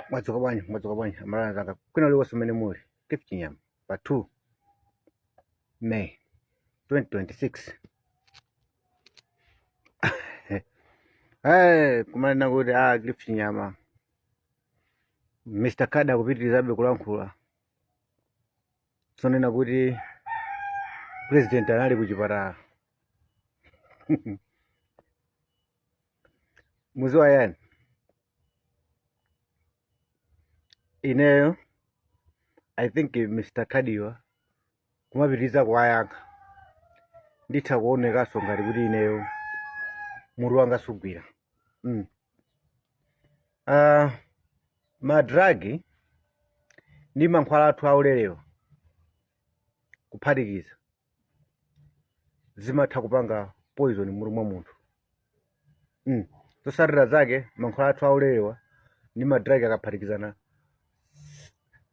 mwadzuka bwanji mwadzuka bwanji aMalawi anzanga kwina kulikonse umene muli Gift Chinyama pa 2 may 2026 hey, kumanena kuti ah, Gift Chinyama mr kada akupitirizabe kulankhula zonena kuti president anali kuchipatala mudziwa yani ineyo i think mr kada-wa kumapitiriza kuwayankha nditha kuonekanso ngati kuti ineyo mutu wanga sukugwira mm. uh, madragi ndi mankhwala athu aulerewa kuphatikiza zimatha kupanga poison m'mutu mwa munthu mm. zotsatira zake mankhwala athu aulerewa ndi madragi akaphatikizana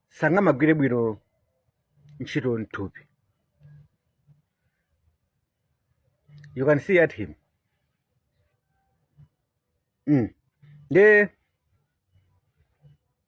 sangamagwire bwino ntchito mthupi you can see at him mm. ndiye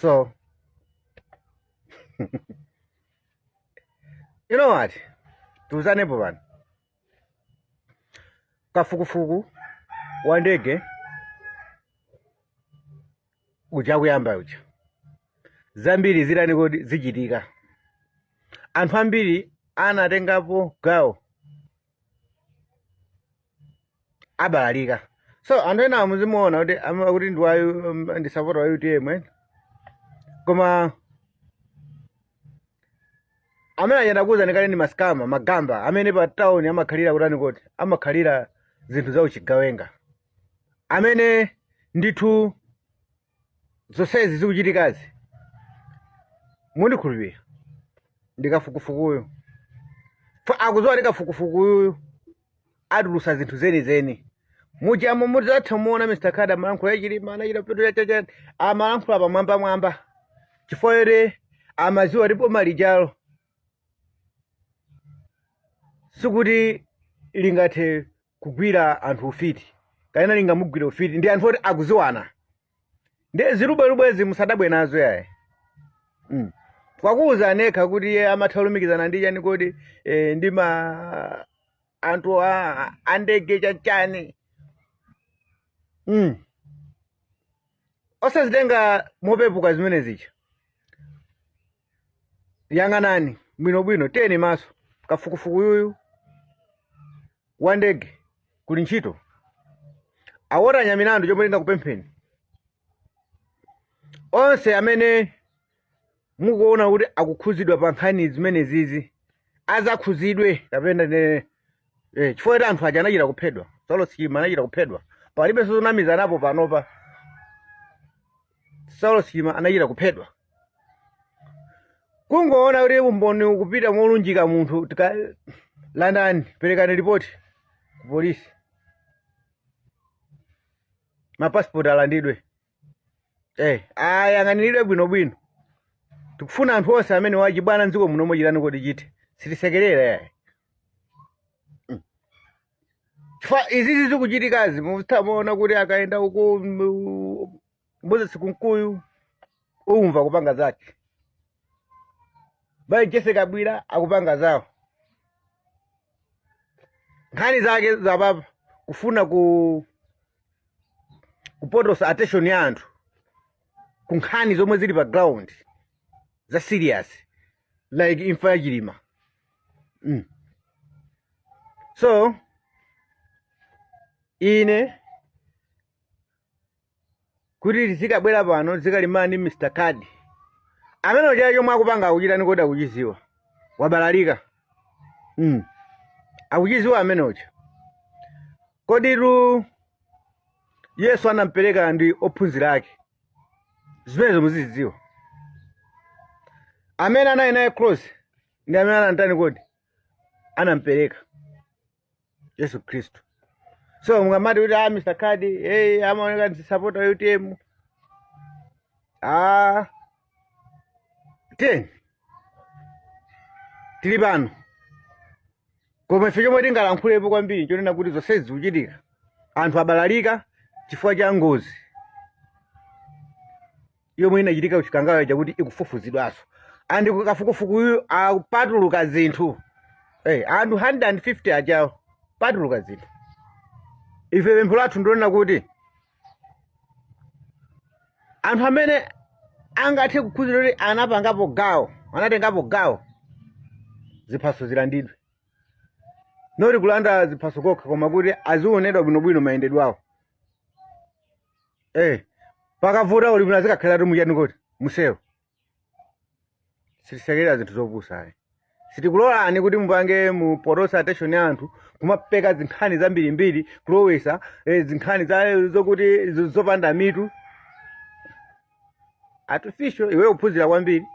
So, you know what? Tiuzanepo pano. Kafukufuku wa ndege uja kuyamba uja. Zambiri zitani kodi zichitika. Anthu ambiri anatengapo gawo abalalika so anthu ena muzimuona kuti am- akuti ndi wa U- um, ndi sapota wa utm eh? koma amene anenakuuza ndikale ndi masikama magamba amene pa town amakhalira kutani koti amakhalira zinthu za uchigawenga amene ndithu zonsezi zikuchitikazi mundikhulupirire ndi kafukufukuyu akudziwa ndi kafukufukuyu atulusa zinthu zenizeni mujamo mudzatha kuona mr kada amalankhula za Chilima anachita petu yachachani amalankhula pamwambamwamba chifukwa choti amadziwa ndipo malirolo sikuti lingathe kugwira anthu ufiti kapena lingamugwire ufiti ndi anthu oti akudziwana ndi zilubwelubwezi musadabwe nazo ayi mm. wakuuzani yekha kuti iye amatha kulumikizana ndi chani kodi eh, ndi ma anthu a- andege chachani mm. osazitenga mopepuka zimenezicha yang'anani bwinobwino teni maso kafukufuku yuyu wa ndege kuli ntchito a walter nyamilandu chomwe ndingakupempheni onse amene mukuona kuti akukhuzidwa pa nkhani zimene zizi azakhuzidwe kapena ne eh, chifukwa kuti anthu aja anachita kuphedwa saulos chilima anachita kuphedwa palibenso zonamizanapo panopa saulos chilima anachita kuphedwa kungoona kuti umboni ukupita molunjika munthu landani perekani ripoti ku polisi mapasipoti alandidwe eh, ayang'aniridwe bwinobwino tikufuna anthu onse amene wachibwana mdziko muno mochitani kodi chite sitisekerera yayi chifukwa izizi zikuchitikazi mutamaona kuti akayenda uko mm, moses kunkuyu umva akupanga zake mai jessie kabwila akupanga zawo nkhani zake zapapa kufuna ku kupotosa attention ya anthu ku nkhani zomwe zili pa ground za serious like imfa ya chilima mm. so ine kuti ndizikabwera pano zikalimbana ndi mr kadi amene uja chomwe akupanga akuchitani kodi akuchiziwa wabalalika mm. akuchiziwa amene uja koditu yesu anampereka ndi ophunzira ake zimenezo muzizidziwa amene anali naye close ndi amene anamtani kodi anampereka yesu khristu so mungamati kuti a mr kadi hey, amaoneka ndi sapota wa utm ah, then tili pano koma ife chomwe tingalankhulepo kwambiri nchonena kuti zonsezi zikuchitika anthu abalalika chifukwa cha ngozi yomwe inachitika kuchikangawa chakuti ikufufuzidwanso and kafukufukuyu apatuluka zinthu hey, eh, anthu 150 ajawo patuluka zinthu ife pempho lathu ndilonena kuti anthu amene angathe kukhuzidwa kuti anapangapo gawo anatengapo gawo ziphaso zilandidwe not kulanda ziphaso kokha koma kuti azionedwa bwinobwino mayendedwe awo eh pakavuta kuli bwino azikakhaliratu muchani kodi mu selo sitisekerera zinthu zopusa ayi sitikulolani kuti mupange mupotosa attention ya anthu kumapeka zinkhani zambirimbiri kulowesa eh, zinkhani za- zokuti zo- zopanda mitu artificial iwe kuphunzira kwambiri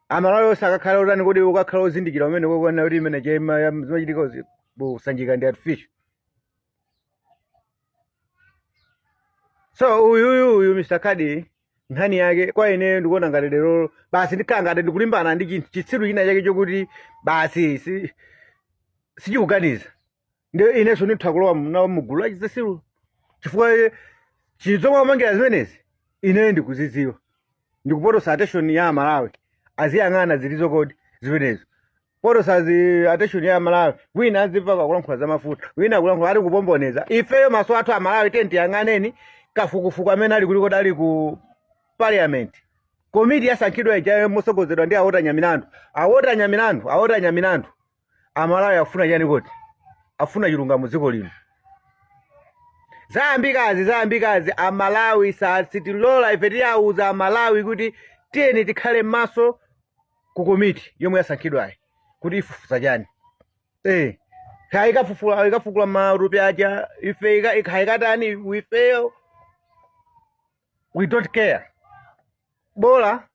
amalawi onse akakhala otani kodi akakhala ozindikira umene kukuona kuti imene zimaya- zimachitika uzi- kusanjidwa ndi artificial so uyuyu uyu mr kadi nkhani yake kwa ineyo ndikuona ngati tero basi ndikhala ngati ndikulimbana ndi chi- chitsiru china chake chokuti basi si- sichikuganiza nde inenso nditha kulowa mu- nawo mugulu la chitsiru chifukwa eh, chinthu zomwe apangira zimenezi ineyo ndikuzidziwa ndi kupotoza attention ya amalawi aziyang'ana ziti kodi zimenezo potoza attention ya amalawi wina azimveka akulankhula za mafuta wina akulankhula ali kupomboneza ifeyo maso athu amalawi tiyeni tiyang'aneni kafukufuku amene ali kuti kodi ali ku parliament komiti yasankhidwa ijayo motsogozedwa ndi a walter nyamilandu a walter nyamilandu a walter nyamilandu amalawi afuna chani kodi afuna chilungamo dziko lino zayambikazi zayambikazi amalawi si- sitilola ife tiyawuza amalawi kuti tiyeni tikhale maso ku komiti yomwe yasankhidwayi kuti ifufuze chani eh kaya ikafufula ikafukula matupi aja ife ika- kaya ikatani ifeyo we don't care bola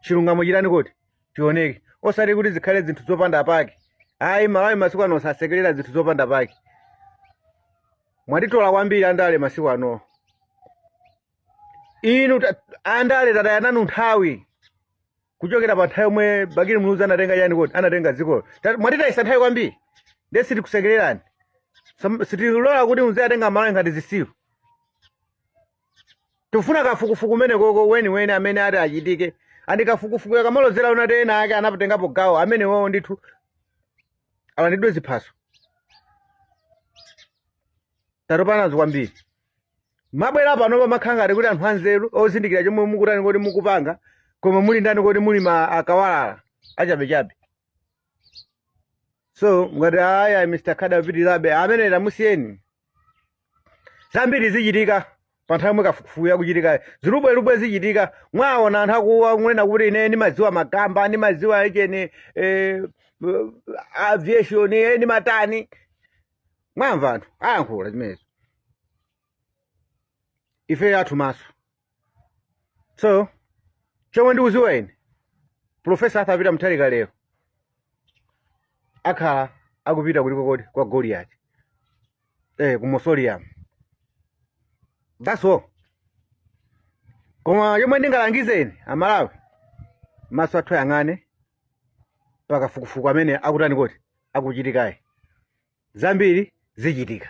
chilungamo chitani kodi chioneke osati kuti zikhale zinthu zopanda pake amalawi masiku ano sasekerera zinthu zopanda pake mwatitola kwambiri andale masiku ano inu ta- andale tataya nanu nthawi kuchokera pa nthawi yomwe bakili muluzi anatenga chani kodi anatenga dzikoli Ta- mwatitayisa nthawi kwambiri nde sitikusekererani Sam- sitilola kuti muziwatenga amalawi ngati zisiru tifuna kafukufuku amene koko weniweni amene ati achitike and kafukufukuyo akamalozera zoti ena ake anatengapo gawo amenewowo ndithu alandidwe ziphaso tatopa nazo kwambiri mabwera panopa makhala ngati kuti anthu anzeru ozindikira chomwe mukutani kodi mukupanga koma muli ndani kodi muli m- akawalala achabechabe so ngati aya mr kadi apitirabe amene tamusiyeni zambiri zichitika pa nthawi yomwe kafukufukuyu akuchitika zilubwelubwe zichitika mwaona anthu akuwa kunena kuti ine ndimadziwa magamba ndimadziwa za cheni eh, aviation eh, ndimatani mwamva anthu ayankhula zimenezo ife athu maso so chomwe ndikuziwa ine profesa Arthur Peter Mutharika lero akhala akupita kuliko kodi kwa Goliati eh, ku Mausoleum that's all koma chomwe ndingalangizeni Amalawi maso athu ayang'ane pakafukufuku amene akutani kodi akuchitikayi zambiri zichitika